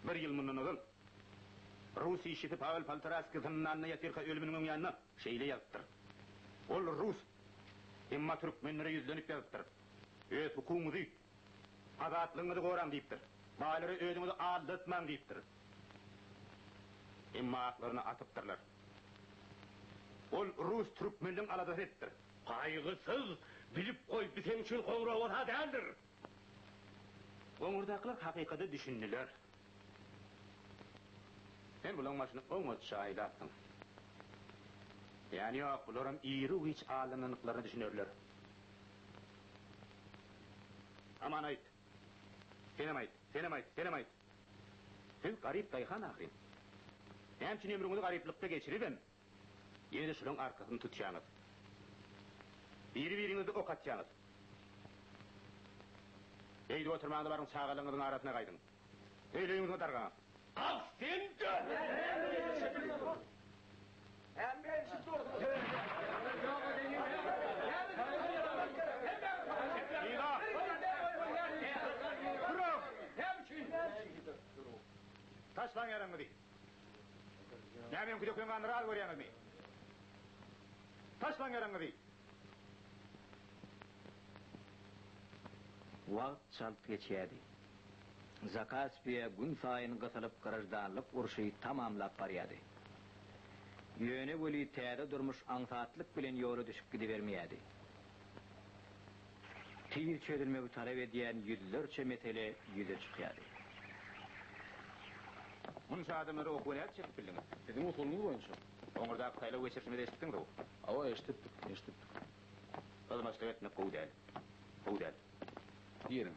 Bir ýyl mundan ozal rus işçisi Pawel Poltoraski zyndanda ýatyrka ölüminiň öň ýanynda şeýle ýazypdyr. Ol rus, emma türkmenlere ýüzlenip ýazypdyr, Öz hukugyňyzy, azatlygyňyzy goraň diýipdir. Baýlary özüňizi aldatmaň diýipdir. Emma aklaryny atypdyrlar. Ol rus türkmenleň aladasy edipdir. Gaýgysyz, bilip goý, bu seň üçin goňrowata däldir. Goňurdakylar hakykata düşündiler. Sen bulaň başyny oňatja aýlapsyň. Ýany ýok, bularam iri giç aldanandyklaryna düşünerler. Aman aýt. Senem aýt, senem aýt, senem aýt. Siz garyp daýhan ahyryn. Näme üçin ömrüňizi garyplykda geçiribem? Ýene şulaň arkasyny tutýaňyz. Biri-biriňizi ok atýaňyz. Beýdip oturmaň-da baryň çagalaryňyzyň arasyna gaýdyň. Öýleriňiziňe dargaňyz. Kalk sen-de! Taşlaň ýaragyňyzy. Näme öňki döken ganlary az görýäňizmi? Taşlaň ýaraňyzy! Wagt çalt geçýärdi. Zakaspiýa günsaýyn gysylyp graždanlyk urşy tamamlap barýardy. Ýöne weli täze durmuş aňsatlyk bilen ýola düşüp gidibermeýärdi. Tiz çözülmegi talap edýän ýüzlerçe mesele ýüze çykýardy. Munça adamlara okuwa nädip çekip bildiňiz? Siziň usulyňyz boýunça. Oňurdaky saýlaw geçirişimizi eşitdiňiz-ow? Hawa, eşidipdik, eşidipdik. Hyzmatçylyk etmek gowy däl. Gowy däl. Diýeliň.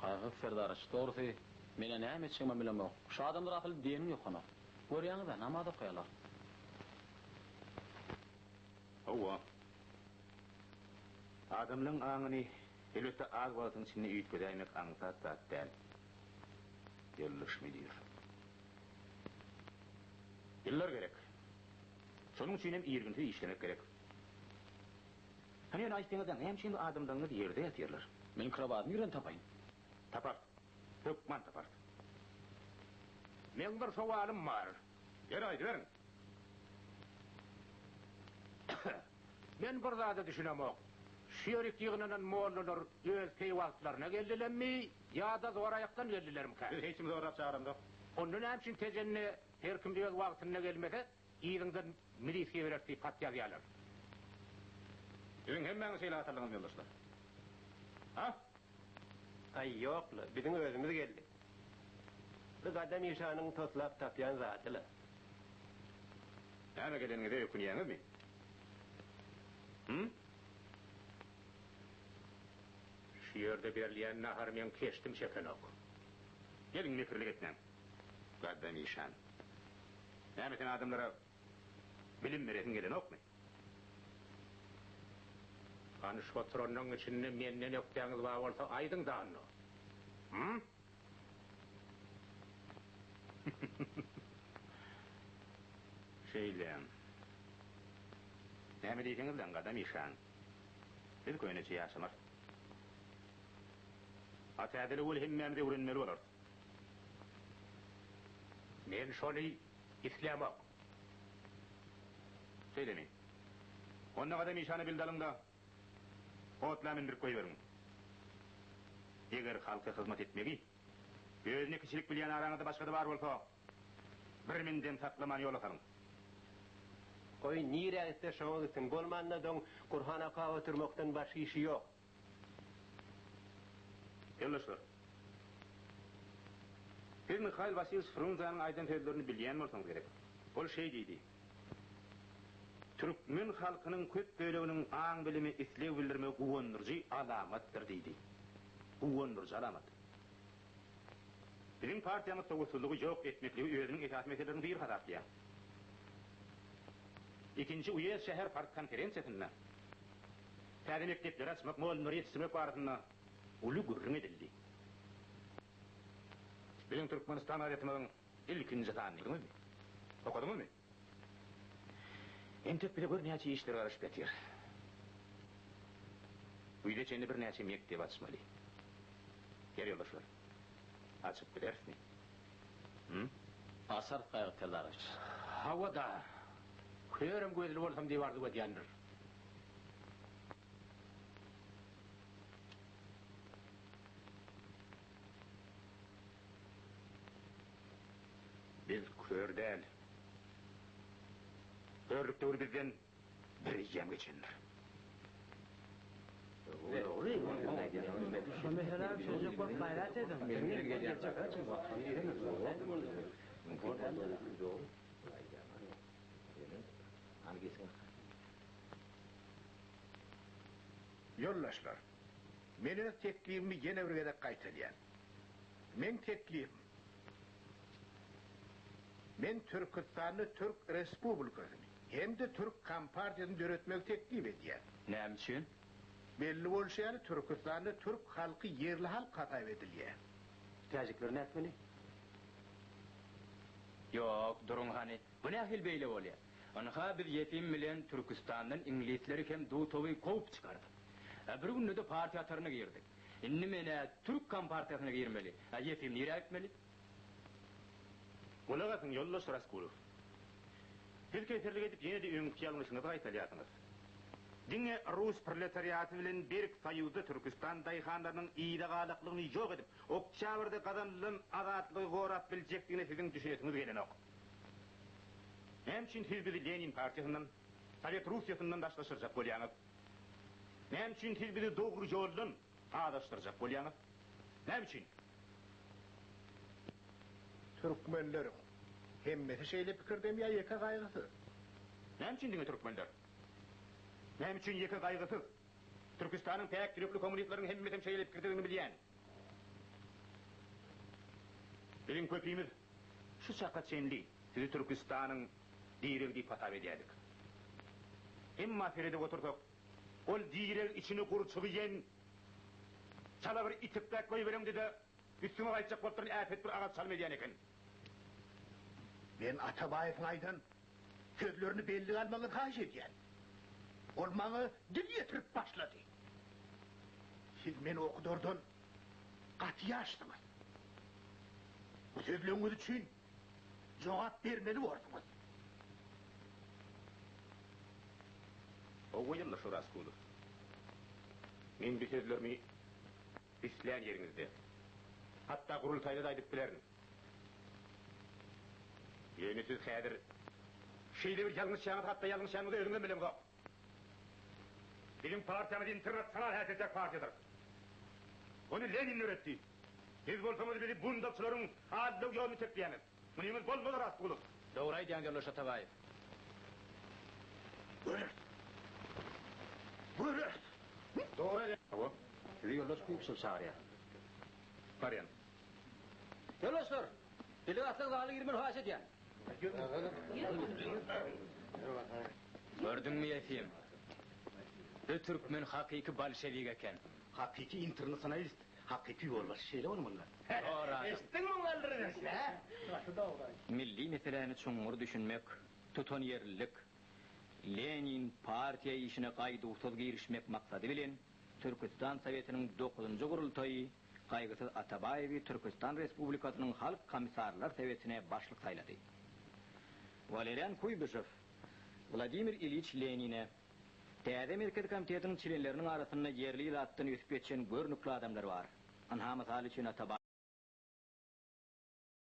Gaýgysyz Serdaryç, Dogrusy, men-ä näme etjegimem bilemok. Şu adamlar asyl deniň ýokana. Görýäňiz-ä, namaz okaýarlar. Hawa. Adamlaryň aňyny, elbetde, az wagtyň içinde üýtgedäýmek aňsat zat däl, ýoldaş müdir. Ýyllar gerek. Şonuň üçinem irginsiz işlemek gerek. Hany ýöne aýtsaňyzda, näme üçin bu adamlaryňyz ýerde ýatyrlar? Meniň krowadymy ýerden tapaýyn. Tapar. Hökman tapar. Meň bir sowalym bar. Ýeri aýdyberiň. Men bir zada düşünemok. Şu ýerik ýygnanan mollalar öz peý wagtlaryna geldilemmi ýa-da zoraýakdan geldilermikä? Biz hiç kimi zorap çagyramzok. Onda näme üçin Tejende her kim öz wagtynda gelmese? Yzyňda milisiýa berer diýip hat ýazýarlar. Siziň hemmäňiz şeýle atarlyňyzmy ýoldaşlar? A? Aý ýok-la, biziň özümiz geldik. Bir gadam işanyň toslap tapýan zady-la. Näme geleniňize ökünýäňizmi? Hü? Şu ýerde berilýän nahary meň keşdim çekenok. Geliň mekirlik etmäň. Gaddam işan. Näme sen adamlara bilim beresiň gelenokmy? Hany şu oturanlaryň içinde menden ökdäňiz bar bolsa aýdyň danda. Hum? Şeýle. Näme diýseňiz daň Gaddam işan. Biz köneçe ýaşamar. Atädili weli hemmämiz öwrenmeli bolarys. Men şony islämok. Şeýdemi? Onda gadam işany bildalyň-da, otla mündürip goýberiň. Eger halka hyzmat etmegi özüne kiçilik bilýän araňyzda başga-da bar bolsa, birmindem saklaman ýola salyň. Goý, nirä gitse, şoňa gitsin. Bolmanda, doň Gurhana okap oturmakdan başga işi ýok. Ýoldaşlar! Siz Mihail Wasilýewiç Frunzäniň aýdan sözlerini bilýän bolsaňyz gerek. Ol şeý diýdi, Türkmen halkynyň köp böleginiň aň-bilime isleg bildirmegi guwandyryjy alamatdyr diýdi. Guwandyryjy alamat. Biziň partiýamyz sowatsyzlygy ýok etmekligi özüniň esasy meseleleriň biri hasaplaýar. Ikinji uýezd şäher partkonferensiýasynda täze mekdepleri açmak, mugallymlary ýetişdirmek barasynda uly gürrüň edildi. Biziň Türkmenistan gazetimiziň ilkinji sanyny gördüňizmi? Okadyňyzmy? Entek bize gör näçe işler garaşyp ýatyr. Güýze çenli birnäçe mekdep açmaly. Ýeri ýoldaşlar, açyp bilerismi? Hum? Açarys Gaýgy Seldarowiç. Hawa-da, körüm gözli bolsam diýip arzuw edýändir. Biz kör däl. Körlük döwri bizden bir eýýäm geçendir. Ýoldaşlar, men öz teklibimi ýene bir gezek gaýtadýan. Meň teklibim, men Türküstanda Türk Respublikasyny hem-de Türk Kompartiýasyny döretmegi teklip edýän. Näme üçin? Belli bolşy ýaly, Türküstanda türk halky ýerli halk hasap edilýä. Täjikler nätmeli? Ýok, duruň hany, Bu nähili beýle bolýar? Ynha, biz Ýefim bilen Türküstandan iňlisleri hem Dutowy kowup çykardyk. A bir günde-de partiýa hataryna girdik. Indi men-ä türk kompartiýasyna girmeli, a Ýefim nirä gitmeli? Gulak asyň, ýoldaş Raskulow. Siz keserlik edip ýene-de öňki ýalňyşyňyzy gaýtalýarsyňyz. Diňe rus proletariaty bilen berk soýuzda Türküstan daýhanlarynyň yzagalaklygyny ýok edip, oktýabrda gazanylan azatlygy gorap biljekdigine siziň düşünesiňiz gelenok. Näme üçin siz bizi Lenin partiýasyndan, Sowet Russiýasyndan daşlaşdyrjak bolýaňyz? Näme üçin siz bizi dogry ýoldan azaşdyrjak bolýaňyz? Näme üçin? Türkmenleriň hemmesi şeýle pikirdemi ýa ýeke gaýgysyz? Näme üçin diňe türkmenler? Näme üçin ýeke gaýgysyz? Türküstanyň päk ýürekli kommunistleriň hemmesem şeýle pikirdedigini bilýän. Biziň köpimiz. Şu çaka çenli sizi Türküstanyň diregi diýip hasap edýärdik. Emma seredip otursak, ol direg içini gurçuk iýen çala bir itikräk goýbereňdede üstüňe gaýtjak bolup duran äpet bir agaç çalym edýän eken. Men Atabaýewiň aýdan sözlerini bellige almagyňyzy haýyş edýän. Ol maňa dil ýetirip başlady. Siz meni okudardan gaty ýaşdyňyz. Bu sözleriňiz üçin jogap bermeli borduňyz. Gowy ýyldyr Şoraskulow. Men bu sözlerimi islän ýeriňizde, hatda gurultaýda-da aýdyp bilerin. Ýöne siz häzir şeýle bir ýalňyşýaňyz, hatda ýalňyşanyňyzy özüňizem bileňzok. Biziň partiýamyz internasional häsiýetdäki partiýadyr. Ony Lenin döretdi. Siz bolsaňyz bizi bundagçylaryň aldydau ýoluny çekýäňiz. Munyňyz bolmaz Rastgulow. Dogry aýdýaň ýoldaş Atabaýew. Göreris. Göreris. Dogry aýdýaň. Hawa. Sizi ýoldaş Kuypişew çagyrýar. Barýan. Ýoldaşlar! Delegatlar zaly girmeli haýyş edýän. Gördüňmi Ýefim? Bu türkmen hakyky bolşewik eken. Hakyky internasionalist, hakyky ýolbaşçy şeýle bolmalydyr. Dogry adam. Eşitdiňmi muňa Ylryz eşit, hä? Gaty dogry aýt. Milli meseläni çuňňur düşünmek, tutanýerlilik, Lenin, partiýa işine gaýduwsyz girişmek maksady bilen, Türküstan Sowetiniň dokuzynjy gurultaýy Gaýgysyz Atabaýewi Türküstan Respublikasynyň Halk Komissarlar Sowetine başlyk saýlady. Walerian Kuýbyşew Wladimir Iliç Lenine, Täze Merkezi Komitetiň çlenleriniň arasynda ýerli ilatdan ösüp ýetişen görnükli adamlar bar. Ynha, mysal üçin, Atabaýew.